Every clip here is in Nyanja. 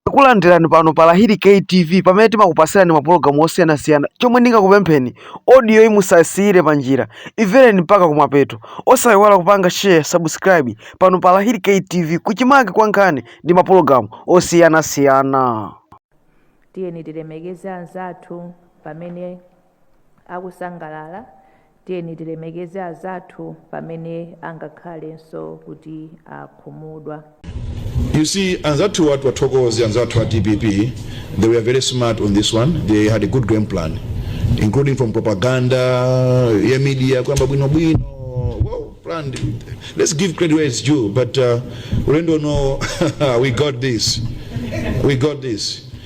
Takulandirani pano pa Lahiri K TV pamene timakupasirani mapulogalamu osiyanasiyana. Chomwe ndingakupempheni, audio yi musasiyire pa njira, imvereni mpaka kumapeto. Osayiwala kupanga share, subscribe pano pa Lahiri K TV kuchimake kwa nkhani ndi mapulogalamu osiyanasiyana. tiyeni tilemekeze anzathu pamene akusangalala, tiyeni tilemekeze azathu pamene angakhalenso kuti akhumudwa. You see anzathuwa tiwathokoze anzathu a dpp they were very smart on this one they had a good grand plan including from propaganda ya media kuyamba bwinobwino well planned let's give credit where it's due but uh, ulendo uno we got this we got this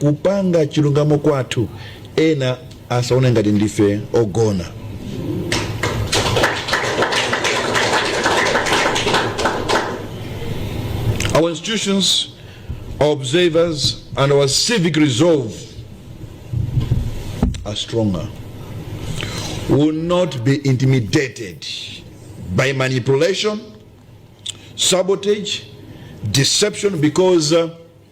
kupanga chilungamo kwathu ena asaone ngati ndife ogona our institutions our observers and our civic resolve are stronger will not be intimidated by manipulation sabotage deception because uh,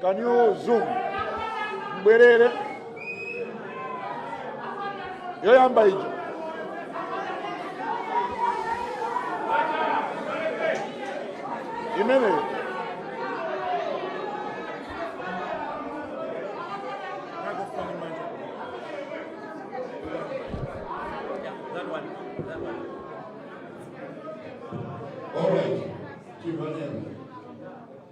Can you zoom? Mbwerere. Yoyamba ija. Imeneyo. All right, keep on in.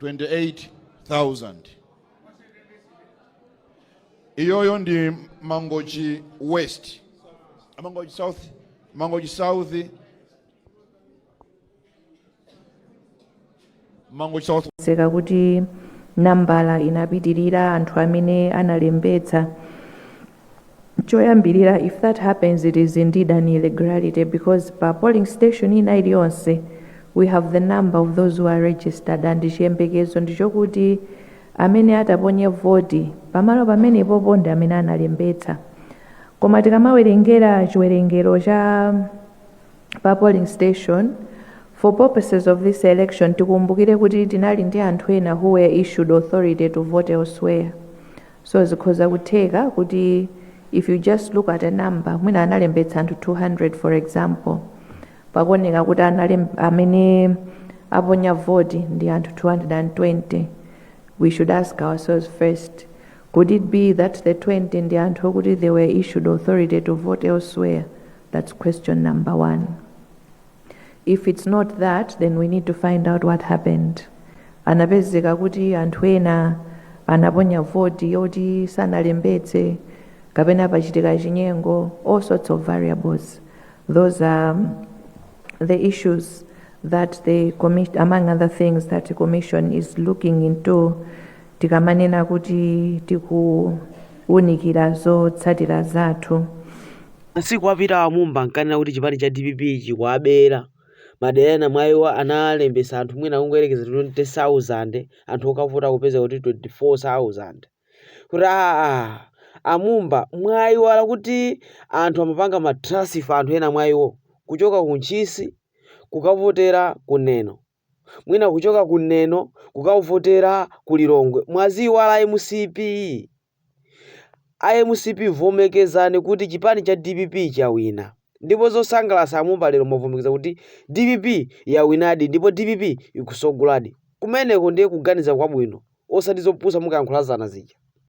28,000 iyoyo ndi mangochi west Ah, mangochi south mangochi south mangochi south akuti nambala inapitirira anthu amene analembetsa choyambirira if that happens it is indeed an irregularity because pa polling station ina iliyonse we have the number of those who are registered and chiyembekezo ndichokuti amene ataponye voti pamalo pamenepopo ndi amene analembetsa koma tikamawerengera chiwerengero cha pa polling station for purposes of this election tikumbukire kuti tinali ndi anthu ena who were issued authority to vote elsewhere so zikhoza kutheka kuti if you just look at a number mwina analembetsa anthu 200 for example pakuoneka kuti analem- amene aponya voti ndi anthu 220 we should ask ourselves first could it be that the 20 ndi anthu okuti they were issued authority to vote elsewhere that's question number one if it's not that then we need to find out what happened anapezeka kuti anthu ena anaponya voti yoti sanalembetse kapena pachitika chinyengo all sorts of variables those are um, the issues among other things that the commission is looking into tikamanena kuti tikuwunikira zotsatira zathu Masiku apitawa a Mumba ankanena kuti chipani cha dpp chikuwabera. Madera ena mwa iwo analembetsa anthu mwina kungoyerekeza 20,000 anthu okavota kupeza kuti 24,000. Kuti aa a Mumba mwayiwala kuti anthu amapanga ma transfer anthu ena mwa iwo kuchoka ku Ntchisi kukavotera ku Neno. mwina kuchoka ku Neno kukavotera ku Lilongwe. Mwaziiwala mcp? A mcp vomekezani kuti chipani cha dpp chawina ndipo zosangalasa a Mumba lero mwavomekeza kuti dpp yawinadi ndipo dpp ikusogoladi. Kumeneko ndiye kuganiza kwabwino osati zopusa munkayankhula zana zija.